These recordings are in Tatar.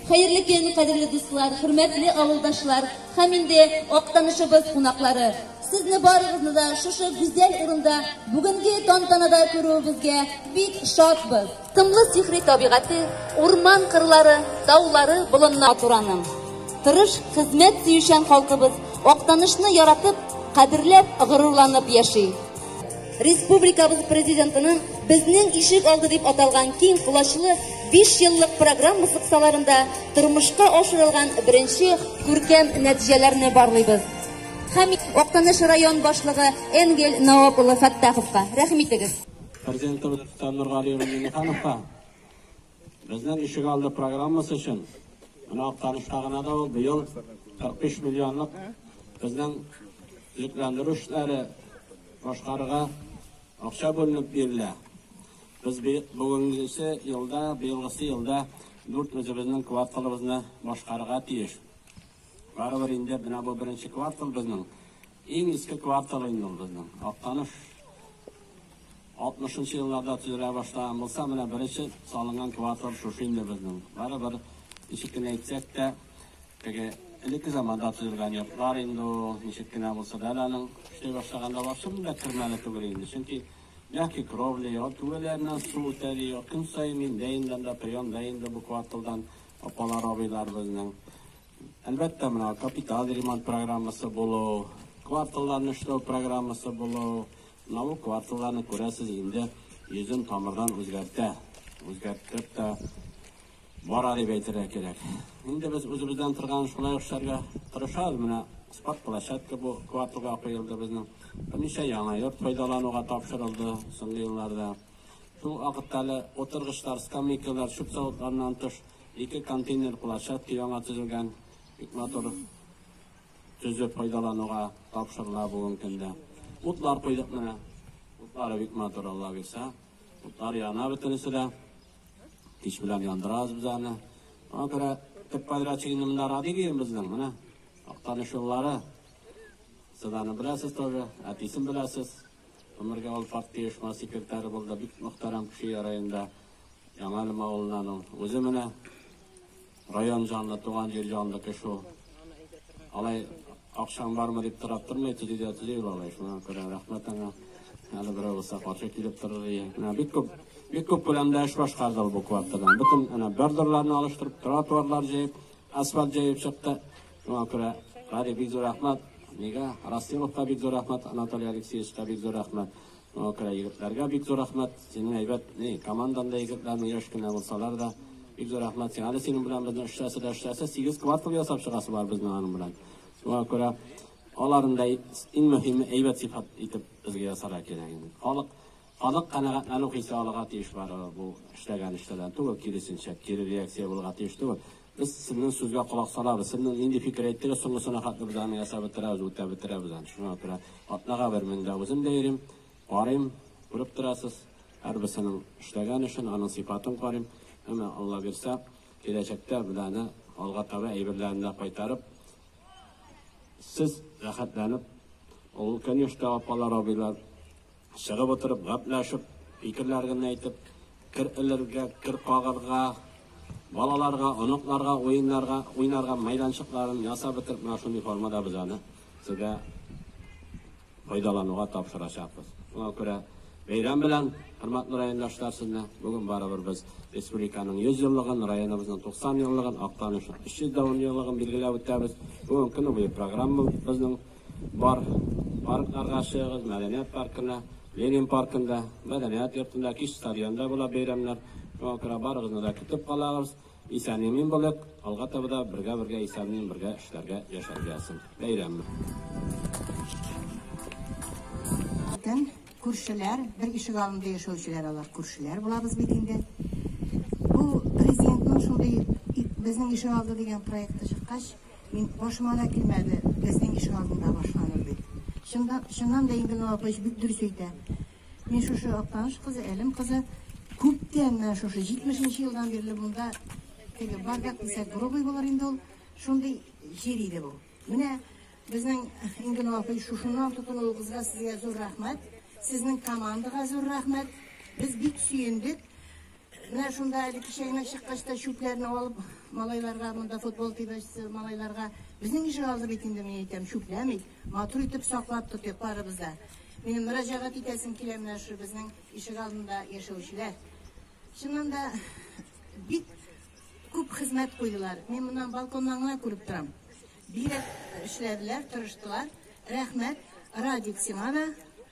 Хәерле көн, кадерле дуслар, хөрмәтле авылдашлар һәм инде актанышыбыз кунаклары. Сезне барыгызны да шушы гүзәл урында бүгенге тантанада күрүебезгә бик шатбыз. Тынлы сихри табигате, урман кырлары, таулары, болыннар тураның. Тырыш, хезмәт сөючән халкыбыз Актанышны яратып, кадерләп, горурланып яши. Республикабыз президентының безнең ишек алды дип аталган киң колачлы 5 еллык программасы кысаларында тормышка ашырылган беренче күркәм нәтиҗәләрне барлыйбыз. Һәм Актаныш район башлыгы Энгель Наоп улы Фәттаховка рәхим итегез. Президентыбыз Фәннур Гали улы Миңнехановка безнең ишегалды программасы өчен менә Актанышта гына да ул быел 45 миллионлык безнең төзекләндерү эшләре башкарырга акча бүленеп бирелә. Без бүгенгесе елда, быелгысы елда дүрт үзебезнең кварталыбызны башкарырга тиеш. Барыбер инде менә бу беренче квартал безнең. Иң иске квартал инде ул безнең. Актаныш 60 нчы елларда төзелә башлаган булса, менә беренче салынган квартал шушы инде безнең. Барыбер ничек кенә әйтсәк тә, теге элекке заманда төзелгән йортлар инде ул, ничек кенә булса да әле аның эшли башлаганда барсы белән дә кермәле түгел инде. Чөнки мягкий кровля юк, түбәләреннән су үтә ди юк. Көн саен мин дә индем дә, прием да инде бу кварталдан апалар-абыйлар безнең. Әлбәттә, менә капиталь ремонт программасы булу, кварталларны эшләү программасы булу, менә бу кварталларны күрәсез инде йөзен тамырдан үзгәртә, үзгәртеп тә бара дип әйтергә кирәк. Инде без үзебездән торган шулай ук эшләргә тырышабыз. Менә спорт площадка бу кварталга куелды безнең. Берничә яңа йорт файдалануга тапшырылды соңгы елларда. Шул вакытта әле утыргычлар, скамейкалар, чүп савытларыннан тыш, Ике контейнер площадка яңа төзелгән, бик матур төзеп файдалануга тапшырыла бүгенге көндә. Утлар куйдык менә. Утлары бик матур, Алла бирсә. Утлар яна бөтенесе дә. Кич белән яндырабыз без аны. Аңа күрә төп подрядчик инде монда Радига безнең, менә. Актаныш юллары. Сез аны беләсез тоже, әтисен беләсез. Гомергә ул партия оешма секретаре булды, бик мөхтәрәм кеше ярый инде. Яңалым авылыннан ул. Үзе менә район җанлы, туган җир җанлы кеше ул. Алай акчаң бармы дип торап тормый, төзи дә төзи ул алай. Шуңа күрә рәхмәт аңа. Әле берәү булса каршы килеп торыр иде. Менә бик күп, бик күп күләмдә эш башкарды ул бу кварталдан. Бөтен әнә бордюрларны алыштырып, тротуарлар җыеп, асфальт җыеп чыкты. Шуңа күрә Радик бик зур рәхмәт, мига, Растиловка бик зур рәхмәт, Анатолий Алексеевичка бик зур рәхмәт. Шуңа күрә егетләргә бик зур рәхмәт. Синең әйбәт, ни, командаң да егетләрнең яшь кенә булсалар да. Бик зур рәхмәт сиңа. Әле синең белән безнең эшләсе дә эшләсе, сигез квартал ясап чыгасы бар безнең аның белән. Шуңа күрә аларны да иң мөһиме әйбәт сыйфат итеп безгә ясарга кирәк инде. Халык, халык канәгатьләнү хисе алырга тиеш барыбер бу эшләгән эшләрдән түгел, киресенчә, кире реакция булырга тиеш түгел. Без сезнең сүзгә колак салабыз. Сезнең нинди фикер әйттегез, соңгысына хәтле без аны ясап бетерәбез, үтәп бетерәбез аны. Шуңа күрә атнага бер мин дә үзем дә йөрим, карыйм, күреп торасыз, һәрберсенең эшләгән эшен, аның сыйфатын карыйм. Әмма, Алла бирсә, киләчәктә без аны алга таба әйберләрен дә кайтарып, сез рәхәтләнеп, ул, конечно, апалар, абыйлар, Чыгып утырып, гәпләшеп, фикерләрен әйтеп, кер элергә, кер кагарга, балаларга, оныкларга уеннарга, уйнарга мәйданчыкларын ясап бетереп, менә шундый формада без аны сезгә файдалануга тапшырачакбыз. Шуңа күрә бәйрәм белән, хөрмәтле райондашлар, сезне бүген барыбер без республиканың 100 еллыгын, районыбызның 90 еллыгын, Актанышның 300 еллыгын билгеләп үтәбез. Бүген көне буе программабызның Бар паркларга чыгыгыз, мәдәният паркына, Ленин паркында, мәдәният йортында, кич стадионда була бәйрәмнәр. Шуңа күрә барыгызны да көтеп калагыз. Исән-имин булыйк, алга таба да бергә-бергә исән-имин бергә эшләргә, яшәргә язсын. Бәйрәм. Бөтен күршеләр, бер ишек алдында яшәүчеләр алар, күршеләр булабыз бит инде. Бу президентның шундый безнең ишек алды дигән проекты чыккач, Мин, башыма да килмәде, безнең ишек алдында башланыр дип. Чынлап, чыннан да инде Габыч бик дөрес әйтә. Мин шушы Актаныш кызы, Әлем кызы. Күптән, менә шушы 70 нче елдан бирле монда теге бардак дисәк грубый булыр инде ул, шундый җир иде бу. Менә безнең Ингенова апай шушыннан тотынуыгызга сезгә зур рәхмәт, сезнең командага зур рәхмәт. Без бик сөендек. Менә шунда әле кичәгенәк чыккач та чүпләрне алып, малайларга монда футбол тибәчсе, малайларга. Безнең ишек алды бит инде, мин әйтәм, чүпләмик, матур итеп саклап тотыйк барыбыз да. Минем мөрәҗәгать итәсем килә менә шул безнең ишек алдында яшәүчеләр. Чыннан да бик күп хезмәт куйдылар. Мин моннан балконнан гына күреп торам. Бигрәк эшләделәр, тырыштылар. Рәхмәт, Радик, сиңа да.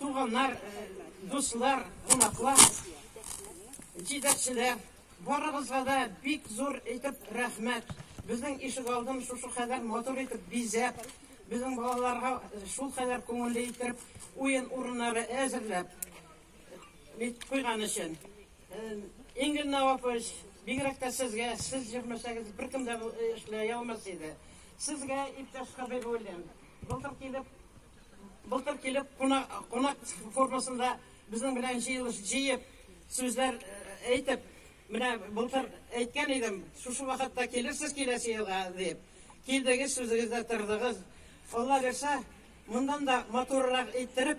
Туганнар, дуслар, кунаклар, җитәкчеләр, барыгызга да бик зур итеп рәхмәт. Безнең ишек алдын шушы кадәр матур итеп бизәп, безнең балаларга шул кадәр күңелле итеп уен урыннары әзерләп, Бит куйган өчен. Ингель Навапович, бигрәк тә сезгә, сез җырмәсәгез, беркем дә эшләй алмас иде. Сезгә, иптәш Хәбибуллин, былтыр килеп, былтыр килеп, кунак формасында безнең белән җыелыш җыеп, сүзләр әйтеп, менә былтыр әйткән идем, шушы вакытта килерсез киләсе елга, дип. Килдегез, сүзегездә тордыгыз. Алла бирсә, моннан да матуррак иттереп,